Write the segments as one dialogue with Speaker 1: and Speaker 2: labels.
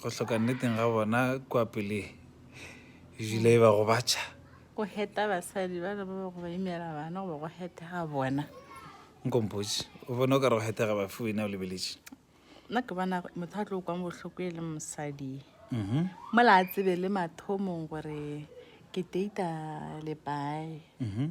Speaker 1: go hloka nneteng ga bona kwa pele jile e ba go batšha go heta
Speaker 2: basadi ba ba ba go ba imela bana goba go hetega bona nkompotse
Speaker 1: o bona o ka re go hetega ba fiwe na o lebeletše nna ke bona
Speaker 2: motho a tlo kwang bohloko e le mosadi mhm. mola a tsebe le mathomong gore ke data lepae mhm.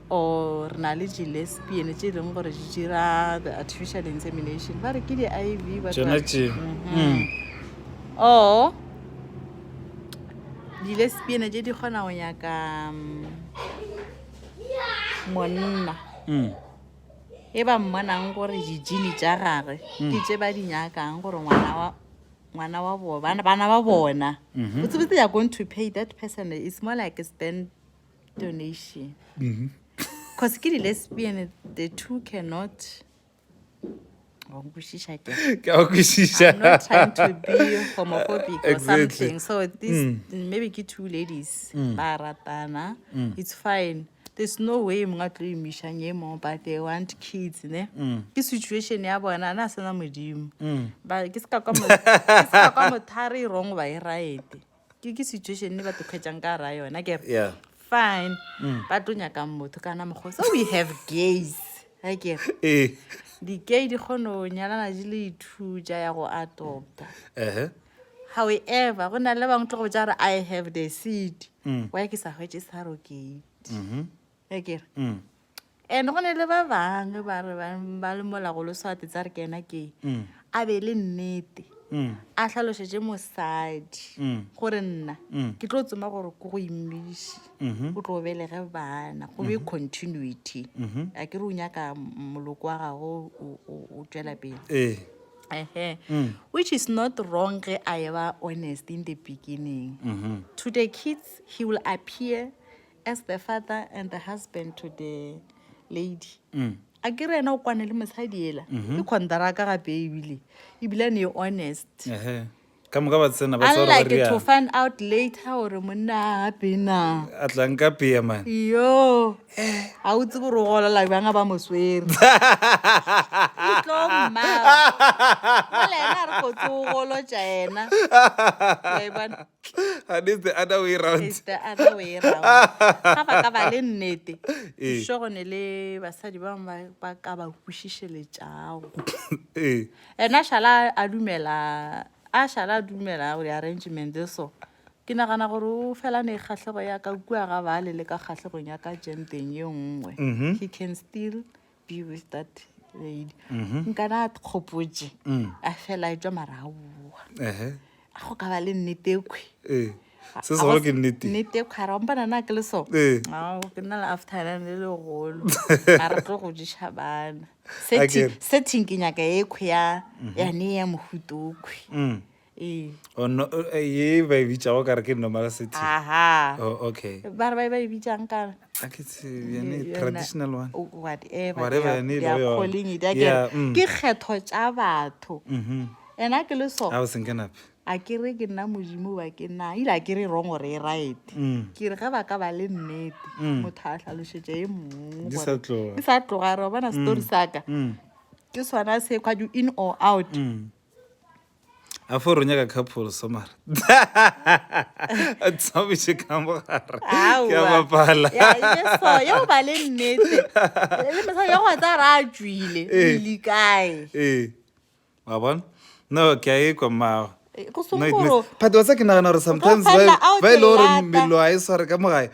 Speaker 2: Or re na le di lesbian tše e leng gore di dira the artificial insemination ba re ke di iv ba tšona tla- tše
Speaker 1: Mhm. Mm.
Speaker 2: or di lesbian tše di kgona go nyaka mm, monna Mm. e ba mmonang gore dijini tša gage ke tše ba di nyakang gore ngwana wa ngwana wa bona bana ba bona Mhm. botsebotse they are going to pay that person is more like a stand donation mm-hmm. cause ke di-lesbian the two cannot kwešiša ke a kwešiša i'm not trying to be homophobic or exactly. something so this mm. maybe ke two ladies mm. ba ratana mm. it's fine there's no way mongwe tlo imišang e mong but they want kids ne mm. ke situation ya bona na sena modimo mm. ke se ka kwa mothare e wrong ba e right ke ke situation ne ba tlo kgwetsang ka ra yona ke yeah fine mm. ba tlo nyakang motho kana mokgwa so we have gays ga ke eh. di-gay di kgone go nyalana di le ithuja ya go adopta however go na le bangwe tlo go ja re i have the seed mm. wa ke sa hwetse sa rokate mm-hmm. ya kere mm. and go ne le ba bangwe ba re ba- ba le molagolo swate tsa re ke ena ke Mm. a be e le nnete Mm. a tlhalošetse mosadi Mm. gore nna Mm. ke tlo tsoma gore ko go immiši Mhm. o tlo belege bana go be continuity Mhm. a ke re o nyaka m- moloko wa gago o- o- o tswela pele ee ehe Mm. which is not wrong ge a eba honest in the beginning Mhm. to the kids he will appear As the father and the husband to the lady mm. a ke re ena o kwane le mosadi ela mm -hmm. ke contraka gape ebile ebile ne e honest uh -huh. ka
Speaker 1: moka ba tsena ba tsara unlike to find out
Speaker 2: later gore monna a gape na a tlang ka pea
Speaker 1: man yo
Speaker 2: ga o tse gore o golola bjanga ba moswere tlommaola ena re kotse o golotša ena
Speaker 1: and it's the other way round it's the other way
Speaker 2: round ga ba ka ba le nnete ee. sure go ne le basadi ba bangwe ba ka ba kwešišeletšago ee. ena šala a dumela a šala a dumela gore arrangement e so ke nagana gore o felane kgatlhego ya ka kua ga bale le ka kgatlhegong ya ka jenteng ye nngwe mm-hmm. he can still be with that lady mm-hmm. nkana a kgopotse mm. a fela etswa maraoa a go ka ba le nnete kwe eh, se segolo ke
Speaker 1: nnete nnete kwe ara ompana
Speaker 2: na ke le so eh. ke nna le afternan le legolo a re tlo go ješa bana setting ke nyaka e kwe ya mm-hmm. ya ne ya mohuto kwe mm. Ee. Oh,
Speaker 1: no, eh, ye ba e bitšago kare ke normal city aha oh, okay ba re ba e ba e
Speaker 2: bitšang kare a ke tse yone Yona-
Speaker 1: traditional one o- whatever Whatever they are-
Speaker 2: yone e they are lego yona. calling it, a ke Yeah, re, mm. ke kgetho tša batho Mhm. and a ke le so a o senkenape a
Speaker 1: ke re ke nna
Speaker 2: modimo ba ke na ile a ke re wrong gore e right Mm. ke re ge ba ka ba le nnete Mm. motho a hlalošetša e mongwe Di gore- sa tloga. di sa tloga re bona story saka Mm. ke sona se kwa you in or out Mm.
Speaker 1: a fo re nyaka couple so mara a tsabiše ka mogare ke a bapala yo
Speaker 2: ba le nnete le mosadi yo gwa tsa ra a tšwile eh. le
Speaker 1: kae eh
Speaker 2: wa bona
Speaker 1: no ke a ekwa mmago
Speaker 2: eh, phatosa ke nagana gore
Speaker 1: sometimes ba e le gore
Speaker 2: melo
Speaker 1: a e sware
Speaker 2: ka
Speaker 1: mogae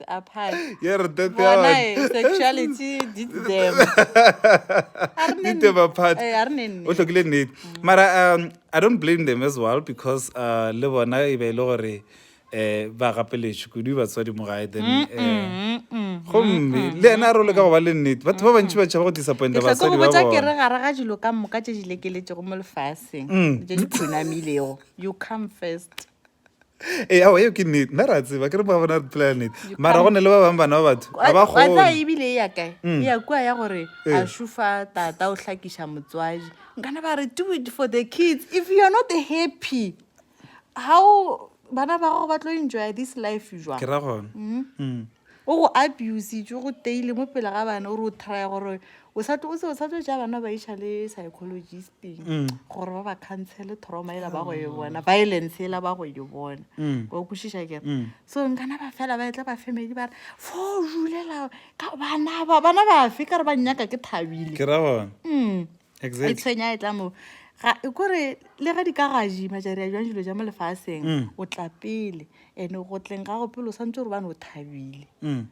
Speaker 2: apart ye re tete ya
Speaker 1: bona eh, sexuality
Speaker 2: di them a re ne Ditema
Speaker 1: nnete. part. Eh, a re ne nnete. o tlhokile
Speaker 2: nnete mara
Speaker 1: um i don't blame them as well because uh, le bona e be e le gore um ba gapeletše kudu batswadi mo gae then um gomme le ena a role ka go ba le nnete batho ba bantši ba tšhaba go disappointa ke sa tlo basadi go ba botsa ke
Speaker 2: re bona gare
Speaker 1: ga dilo
Speaker 2: ka
Speaker 1: moka
Speaker 2: tše di lekeletšego mo lefaseng Mm. tše di phunamilego you come first ee
Speaker 1: ao eo ke nnete nna re a tseba ke re ba bona re phelela nnete mara go ne le ba bangwe bana ba batho ga ba kgone watsa ebile e ya
Speaker 2: kae e ya kua ya gore a Ee. šofa tata o hlakiša motswadi nkana ba re do it for the kids if you are not happy how bana ba gago ba tlo enjoya this life jwang ke ra gona
Speaker 1: Mm. O go
Speaker 2: abusitšwe go teile mo pele ga bana o re o trya gore o sa tlo o se o sa tlo tšea bana ba iša le psychologisting mm. gore ba ba counsele trauma ela ba go e bona mm. violence ela ba go e bona mm. wa kwešiša ke mm. so nkana ba fela ba etla ba family ba re fo o julela ka bana ba bana bafe ka re ba nnyaka ke thabile ke ra gona mm.
Speaker 1: e
Speaker 2: tshwenya e
Speaker 1: tla mo
Speaker 2: kore le ge di ka gaji majari a jwang dilo ja mo lefaseng mm. o tla pele ene go tleng ga go pele o santse gore bane o thabile mm.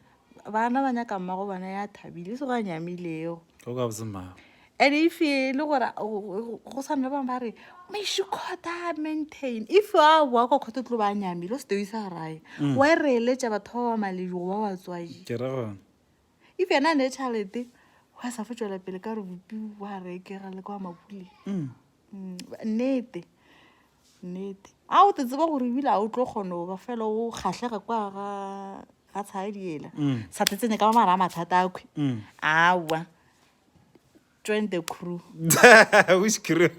Speaker 2: bana ba nyaka mma go bona ya thabile e se go a nyamilego
Speaker 1: and if e
Speaker 2: le gore go sa nna bangwe ba re mashikota maintain if a boa kwa kgotho tlo ba nyamile o se teo isa rae mm. wa e reeletša batho ba ba malejo ba batswaji
Speaker 1: if yena a
Speaker 2: ne tšhalete go a sa fo tšwela pele ka gore bopi wa rekega le kwa mapuleng Mm. Mm, ba- nnete nnete a o te tseba gore ebile a o tlo kgona go ba fela o kgatlhega kwa ga ga tshadiela Mm. sa tletsenye ka ba mara a mathata akhwi Mm. awa join the crew which
Speaker 1: crew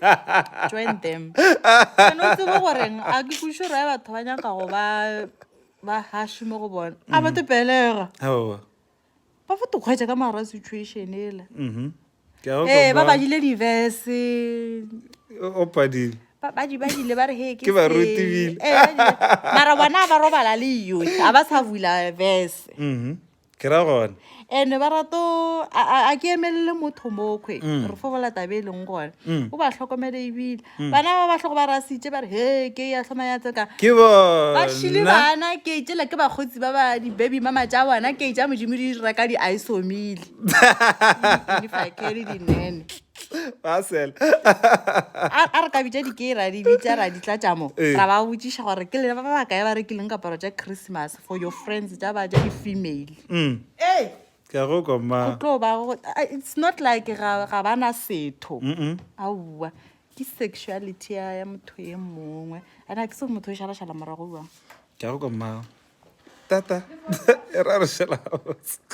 Speaker 1: join them
Speaker 2: and o tsebo goreng a ke kuše ra batho ba nyaka go ba ba hash mo go bona a ba tepelega oh ba fo to khwetsa ka mara situation ela mhm eh ba ba dile diverse o
Speaker 1: padile ba di ba dile
Speaker 2: ba re he ke ba rutibile
Speaker 1: eh mara
Speaker 2: bona ba robala le yo a ba sa vula verse mhm ke ra
Speaker 1: gone ene ba rato
Speaker 2: a ke emelele motho mokgwe mm. re fobola tabe e leng gone mm. o ba tlhokomele ebile mm. bana ba ba tlhogo ba rasitse ba re he ke ya tlhoma ya tseka ke ba
Speaker 1: šile
Speaker 2: bana ke tsela
Speaker 1: ke
Speaker 2: bakgotsi ba ba di-baby mama tša bona ke tša modimo di dira ka di-isomile dinene a re ka bitsa dikera di bitsa ra ditlatšamo eh. ra ba botsiša gore ke lena ba baka ya ba rekileng kaparo tša christmas for your friends tša ba tša di-female mm. ee
Speaker 1: ke a go kwa ma go tlo ba go ah,
Speaker 2: it's not like ga ga ba na setho Mm, mm. aowa ke sexuality ya ya motho e mongwe ana ke se go motho o šalašala morago bjang ke
Speaker 1: a go kwa ma tata e ra
Speaker 2: re šela
Speaker 1: gabotse